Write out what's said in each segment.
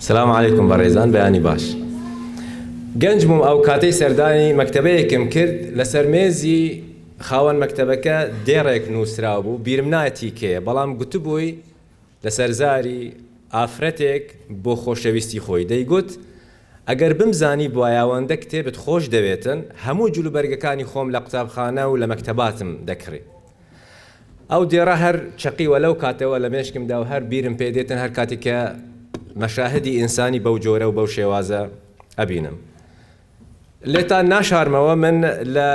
سلام علیکم بەڕێزان بەیانی باش گەنج بووم ئەوکاتەی سەردانی مەکتەبەیەکم کرد لەسەر مێزی خاوەن مەکتەبەکە دێڕێک نووسرابوو بیرم نایە تی کێیە بەڵام گوتبووی لەسەر زاری ئافرەتێک بۆ خۆشەویستی خۆی دەیگوت ئەگەر بمزانیبوایە ئەوەندە کتێبت خۆش دەوێتن هەموو جلوبەرگەکانی خۆم لە قوتابخانە و لە مەکتەباتم دەکڕی. ئەو دێڕە هەر چەقیوە لەو کاتەوە لە مێشکمدا و هەر بیرم پێ دێتن هەر کاتێک کە مەشاهدی ئینسانی بەو جۆرە و بەو شێوازە ئەبینم. لێتان ناشارمەوە من لە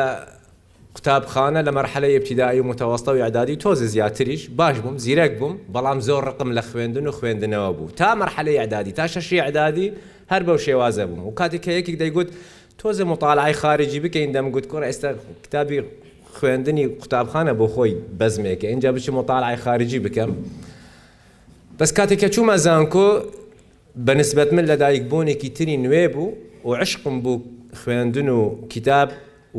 قوتابخانە لە مەرحەلەی ئیبتیدایی و متەوەستە و ئیعدادی و تۆزێ زیاتریش باش بووم، زیرەک بووم، بەڵام زۆر ڕقم لە خوێندن و خوێندنەوە بوو تا مەرحەلەی ئیعدادی، تا شەشی ئیعدادی هەر بەو شێوازە بووم و کاتێک کە یەکێک دەیگوت تۆزێ موتالعەی خارجی بکەین دەمگوت کوڕە ئێستا کتابی خوێندنی قوتابخانە بۆ خۆی بەزمێکە ئینجا بچم موتالعەی خارجی بکەم بەس کاتێک کە چوومە زانکۆ بە نسبەت من لەدایک بوونێکی تری نوێ بوو و عشقم بوو خوێندن و کتاب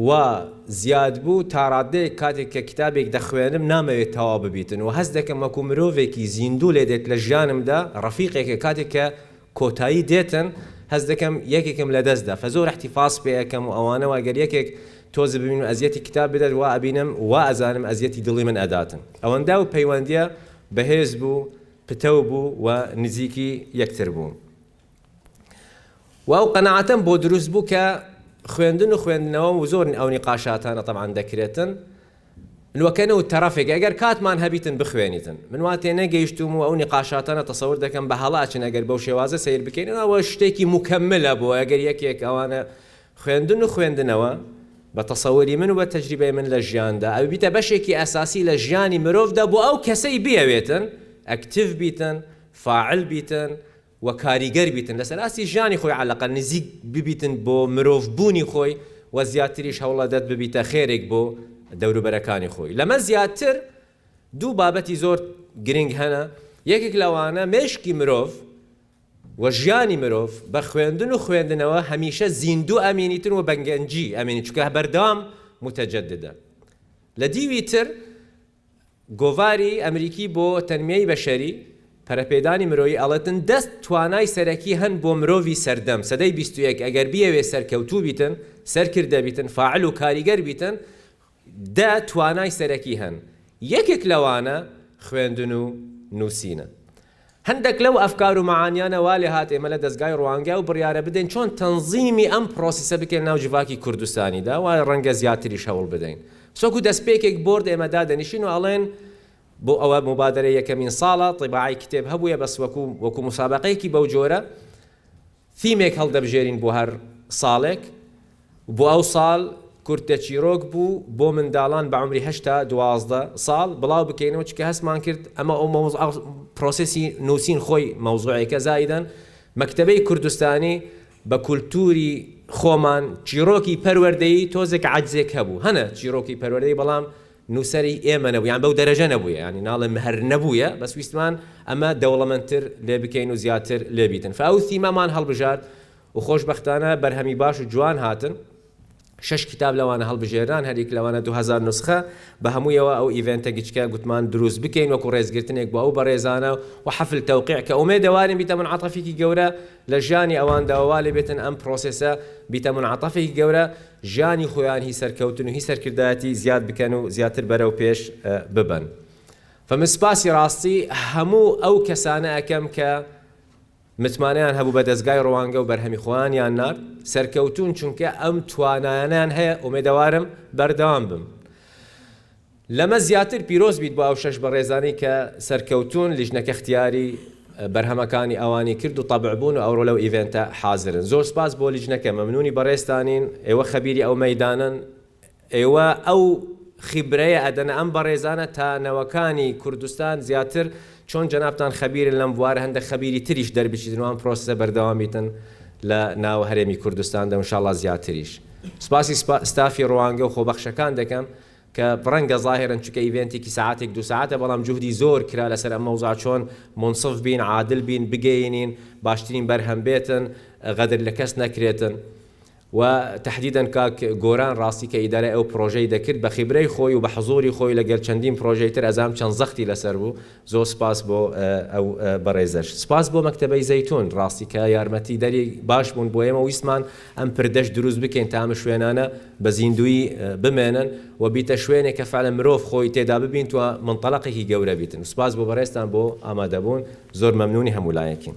وا زیاد بوو تا ڕادەیەک کاتێک کە کتابێک دەخوێنم نامەوێت تەواو ببیتن و هەست دەکەم وەکو مرۆڤێکی زیندوو لێدێت لە ژیانمدا ڕەفیقێکە کاتێک کە کۆتایی دێتن هەست دەکەم یەکێکم لە دەست دا فە زۆر احتفاظ پێ ئەکەم و ئەوانە و گەر یەکێک تۆز ببینم و ئەزیەتی کتاب بدات وا ئەبینم وا ئەزانم ئەزیەتی دڵی من ئەداتن ئەوەندا و پەیوەندیە بە هێز بوو پتەو بوو و نزیکی یەکتر بوون و ئەو قەناعەتەم بۆ دروست بوو کە خوێندن و خوێندنەوە و زۆر ئەو نیقاشاتانە تەبعەن دەکرێتن نوکەنو تەڕەفێک ئەگەر کاتمان هەبیتن بخوێنیتن من وا تێنەگەیشتوم و ئەو نیقاشاتەنە تەسەور دەکەم بە هەڵە ئەچن ئەگەر بەو شێوازە سەیر بکەین ئەوە شتێکی موکەملە بۆ ئەگەر یەکێک ئەوانە خوێندن و خوێندنەوە بە تەسەوری من و بە تەجریبەی من لە ژیاندا ئەو بیتە بەشێکی ئەساسی لە ژیانی مرۆڤدا بۆ ئەو کەسەی بیەوێتن ئەکتیڤ بیتن فاعل بیتن و کاریگەر بیتن لەسەر ئاستی ژیانی خۆی عەلەقەل نزیک ببیتن بۆ مرۆڤ بوونی خۆی و زیاتریش هەوڵەدەت ببیتە خێرێک بۆ دەوروبەرەکانی خۆی لەمە زیاتر دوو بابەتی زۆر گرنگ هەنە یەکێک لەوانە مێشکی مرۆڤ و ژیانی مرۆڤ بە خوێندن و خوێندنەوە هەمیشە زیندوو ئەمینیتن و بەگەنجی ئەمینی چونکە بەردەوام متجددە لە دیوی تر گۆڤاری ئەمریکی بۆ تەنمیەی بەشەری، پەرەپێدانی مرۆیی، ئەڵێتن، دە توانای سەرەکی هەن بۆ مرۆڤی سەردەم، سەدەی بیست و یەک، ئەگەر بیەوێ سەرکەوتوو بیتن، سەرکردە بیتن، فاعل و کاریگەر بیتن، دە توانای سەرەکی هەن. یەکێک لەوانە خوێندن و نووسینە. هەندەک لەو ئەفکار و مەعانیانە وا لێهات ئێمە لە دەزگای ڕوانگە ئەو بڕیارە بدەین چۆن تەنزیمی ئەم پرۆسیسە بکەین ناو جڤاکی کوردستانیدا و ڕەنگە زیاتریش هەوڵ بدەین سۆکو دەستپێکێک بۆرد ئێمە دادەنیشین و ئەڵێن بۆ ئەوە موبادەرە یەکەمین ساڵە طباعەی کتێب هەبوویە بەس وەکو وەکو موسابەقەیەکی بەو جۆرە ثیمێک هەڵدەبژێرین بۆ هەر ساڵێک و بۆ ئەو ساڵ کورتە چیرۆک بوو بۆ منداڵان بە عەمری هەشت تا دوازدە ساڵ بڵاو بکەینەوە چونکە هەستمان کرد ئەمە ئەو مەوز ئەو پرۆسێسی نووسین خۆی مەوزوعێکە زائیدەن مەکتەبەی کوردستانی بە کولتووری خۆمان چیرۆکی پەروەردەیی تۆزێک عەجزێک هەبوو هەنە چیرۆکی پەروەردەیی بەڵام نوسەری ئێمە نەبوو یان بەو دەرەجە نەبوویە یانی ناڵێم هەر نەبوویە بەس ویستمان ئەمە دەوڵەمەندتر لێ بکەین و زیاتر لێ بیتن فە ئەو ثیمە مان هەڵبژارد و خۆش بەختانە بەرهەمی باش و جوان هاتن شەش کیتاب لەوانە هەڵبژێرران هەر یەک لەوانە دوو هەزار نوسخە بە هەموویەوە ئەو ئیڤێنتە گچکە گوتمان دروست بکەین وەکو ڕێزگرتنێک بۆ ئەو بەڕێزانە و حەفل تەوقیع کە ئومێدەوارین بیتە مونعەتەفێکی گەورە لە ژیانی ئەواندا و وا لێ بێتن ئەم پڕۆسێسە بیتە مونعەتەفێکی گەورە ژیانی خۆیان هی سەرکەوتن و هی سەرکردایەتی زیاد بکەن و زیاتر بەرەو پێش ببەن فمن سپاسی ڕاستی هەموو ئەو کەسانە ئەکەم کە متمانەیان هەبوو بە دەزگای ڕوانگە و بەرهەمی خۆیانیان نارد سەرکەوتون چونکە ئەم توانایانیان هەیە ئومێدەوارم بەردەوام بم. لەمە زیاتر پیرۆز بیت بۆ ئەو شەش بەڕێزانەی کە سەرکەوتوون لیژنە کەختیاری بەرهەمەکانی ئەوانی کرد و طبع بوون و ئەوڕۆ لەو ئیڤێنتە حازرن زۆر سپاس بۆ لیژنەکە مەمنونی بەڕێزتانین ئێوە خەبیری ئەو مەیدانەن ئێوە ئەو خیبرەیە ئەدەنە ئەم بەڕێزانە تا نەوەکانی کوردستان زیاتر چۆن جەنابتان خەبیرن لەم بوارە هەندەک خەبیری تریش دەربچیتن و ئەم پرۆسسە بەردەوام بیتن لە ناو هەرێمی کوردستاندا و انشاءاللە زیاتریش سپاسی ستافی ڕوانگە و خۆبەخشەکان دەکەم کە پڕەنگە زاهیرەن چونکە ئیڤێنتێکی سەعاتێک دوو سەعاتە بەڵام جوهدی زۆر کرا لەسەر ئەم مەوزوعە چۆن مونصف بین عادل بین بگەینین باشترین بەرهەم بێتن غەدر لە کەس نەکرێتن و تەحدیدەن کاک گۆران ڕاستی کە ئیدارەی ئەو پڕۆژەی دەکرد بە خیبرەی خۆی و بە حزوری خۆی لەگەل چەندین پڕۆژەی تر ئەزانم چەند زەختی لەسەر بوو زۆر سپاس بۆ ئەو بەڕێزەش. سپاس بۆ مەکتەبەی زەیتون ڕاستی کە یارمەتی دەری باش بوون بۆ ئێمە ویستمان ئەم پردەش دروست بکەین تا ئەم شوێنانە بە زیندوویی بمێنن و بیتە شوێنێک کە فەعلەن مرۆڤ خۆی تێدا ببینت و منطلقێکی گەورە بیتن سپاس بۆ بەڕێزتان بۆ ئامادەبوون زۆر مەمنوونی هەموو لایەکین.